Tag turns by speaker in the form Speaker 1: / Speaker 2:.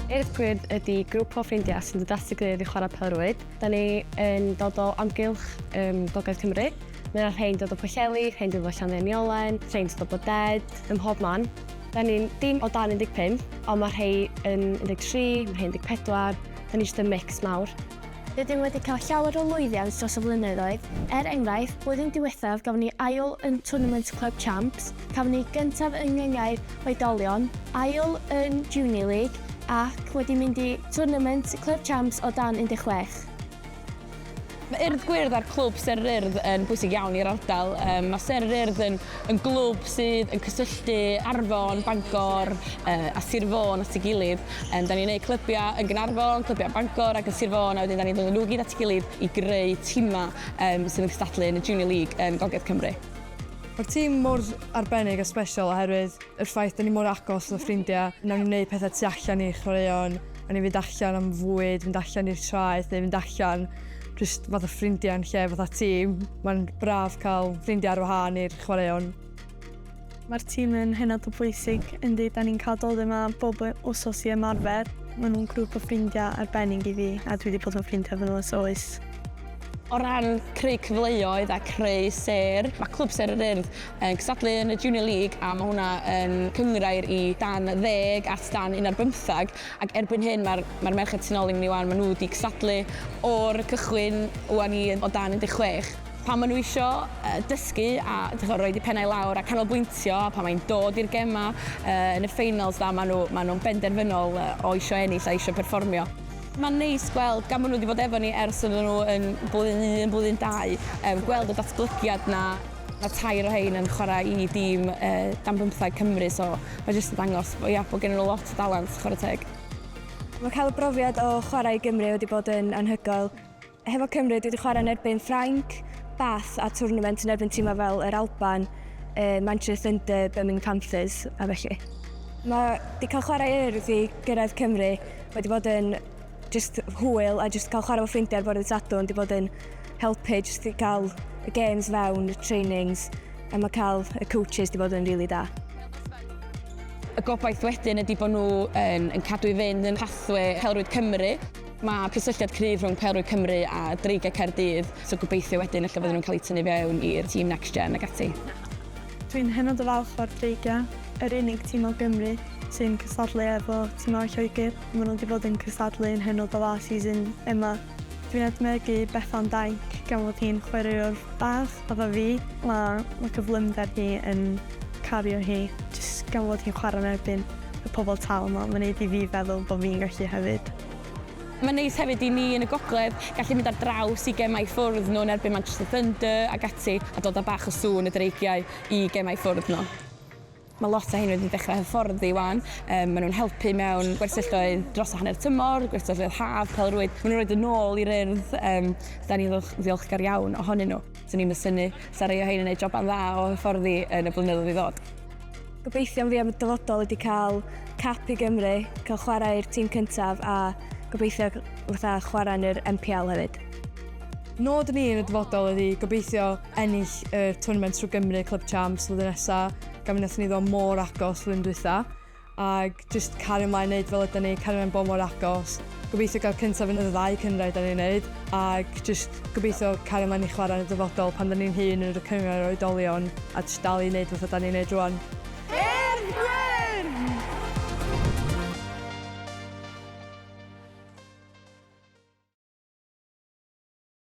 Speaker 1: Eirth Queer ydy grŵp o ffrindiau sy'n dod at ei gilydd i chwarae pêl-rwyd. Da ni yn dod o amgylch um, Gogledd Cymru. Mae yna rhain dod o Pwllheli, rhain dod o Llanddeuniolen, rhain dod o Boded, ym mhob man. Da ni'n dim o dan 15, ond mae rhai yn 13, mae rhai 14. Da ni jyst yn mix mawr. Rydym wedi cael
Speaker 2: llawer o lwyddiant dros y flynyddoedd, er enghraifft, blwyddyn diwethaf gafon ni ail yn Twrnament Clwb Champs, cafon ni gyntaf yng Ngyngair Oedolion, ail yn Junior League ac wedi mynd i Twrnament Clwb Champs o dan 16.
Speaker 3: Mae Urdd Gwyrdd a'r Clwb Sêr yr Urdd yn bwysig iawn i'r ardal. Mae Sêr yr Urdd yn yn glwb sydd yn cysylltu Arfon, Bangor a Sir Fôn at ei gilydd. Yym, 'dan ni'n neud clybiau yn Gaernarfon, clybiau yn Bangor ac yn Sir Fôn, a wedyn 'dan ni'n dod â nhw i gyd at ei gilydd i greu timau yym sydd yn cystadlu yn y Junior League yn Gogledd Cymru. Mae'r tîm
Speaker 4: mor arbennig a sbesial oherwydd yr ffaith 'dan ni mor agos fatha ffrindiau, wnawn ni wneud pethau tu allan i chwaraeon, wnawn ni fynd allan am fwyd, fynd allan i'r traeth neu fynd allan jyst fatha ffrindiau yn lle fatha tîm. Mae'n braf cael ffrindiau ar wahân i'r chwaraeon. Mae'r
Speaker 5: tîm yn hynod o bwysig. Yndi, da ni'n cael dod yma bob wsos i ymarfer. Maen nhw'n grŵp o ffrindiau arbennig i fi a dwi wedi bod yn ffrindiau efo nhw ers oes. O
Speaker 3: ran creu cyfleoedd a creu sêr, mae Clwb Sêr yr Urdd yn cystadlu yn y Junior League a mae hwnna yn cynghrair i dan ddeg at dan un ar bymtheg ac erbyn hyn mae'r mae'r merched tu ôl i ni 'wan, maen nhw wedi cystadlu o'r cychwyn 'wan i o dan un deg chwech. pan maen nhw isio dysgu a rhoid eu pennau lawr a canolbwyntio, a pan mae'n dod i'r gemau yn y ffeinals da, maen nhw, maen nhw'n benderfynol o isio ennill a isio perfformio. Mae'n neis gweld, gan bod nhw wedi bod efo ni ers oedden nhw yn blwyddyn un, blwyddyn dau, gweld y datblygiad 'na. Mae tair o rhein yn chwarae i dîm dan bymtheg Cymru, so mae jyst yn dangos bod, ia, bod gennyn nhw lot o dalent, chwarae teg. Mae cael
Speaker 6: y brofiad o chwarae i Gymru wedi bod yn anhygoel. Hefo Cymru, dwi 'di chwarae yn erbyn Ffrainc, Bath a twrnament yn erbyn timau fel yr Alban, Manchester Thunder, Birmingham Panthers a felly. Mae 'di cael chwarae Urdd i gyrraedd Cymru wedi bod yn jyst hwyl a jyst cael chwarae fo ffrindiau ar fore ddydd Sadwrn wedi bod yn helpu jyst i gael y games fewn, y trainings a mae cael y coaches wedi bod yn rili da.
Speaker 3: Y gobaith wedyn ydi bod nhw yn yn cadw i fynd yn pathwê pêl-rwyd Cymru. Mae cysylltiad cryf rhwng Pêl-rwyd Cymru a Dreigiau Caerdydd, so gobeithio wedyn ella fydden nhw'n cael eu tynnu fewn i'r tîm Next Gen ac ati. Dwi'n hynod
Speaker 5: o falch o'r Dreigiau, yr unig tîm o Gymru sy'n cystadlu efo tîmau o Lloegr. Maen nhw wedi bod yn cystadlu yn hynod o dda season yma. Dwi'n edmygu Bethan Dainc gan fod hi'n chwaraewr bach fatha fi. Mae cyflymder hi yn cario hi jyst gan fod hi'n chwarae yn erbyn. y pobl tal 'ma, mae'n neud i fi feddwl bod fi'n gallu hefyd. Mae'n neis
Speaker 3: hefyd i ni yn y gogledd gallu mynd ar draws i gemau ffwrdd nhw yn erbyn Manchester Thunder ac ati a dod â bach o sŵn y Dreigiau i gemau ffwrdd nhw. Mae lot o rhein wedi dechrau hyfforddi 'wan, maen nhw'n helpu mewn gwersylloedd dros hanner tymor, gwersylloedd haf, pêl-rwyd, maen nhw'n rhoid yn ôl i'r Urdd, dan ni'n ddiolchgar iawn ohonyn nhw. 'Swn i'm yn synnu 'sa rhai o rhein yn neud joban dda o hyfforddi yn y blynyddoedd i ddod. Gobeithion fi
Speaker 6: am y dyfodol ydi cael cap i Gymru, cael chwarae i'r tîm cyntaf a gobeithio fatha chwarae yn yr NPL hefyd. Nod
Speaker 4: ni yn y dyfodol ydi gobeithio ennill y twrnament trwy Gymru Club Champs flwyddyn nesa, gan mi nathon ni ddod mor agos flwyddyn dwytha, ag Jyst cario mlaen neud fel ydan ni, cario mlaen bod mor agos. Gobeithio gael cyntaf yn y ddau cynghrair dan ni'n neud, ac jyst gobeithio cario mlaen i chwarae yn y dyfodol pan dan ni'n hŷn yn y cynghrair oedolion, a jyst dal i neud fatha dan ni'n neud rŵan. I'r Gwyrdd!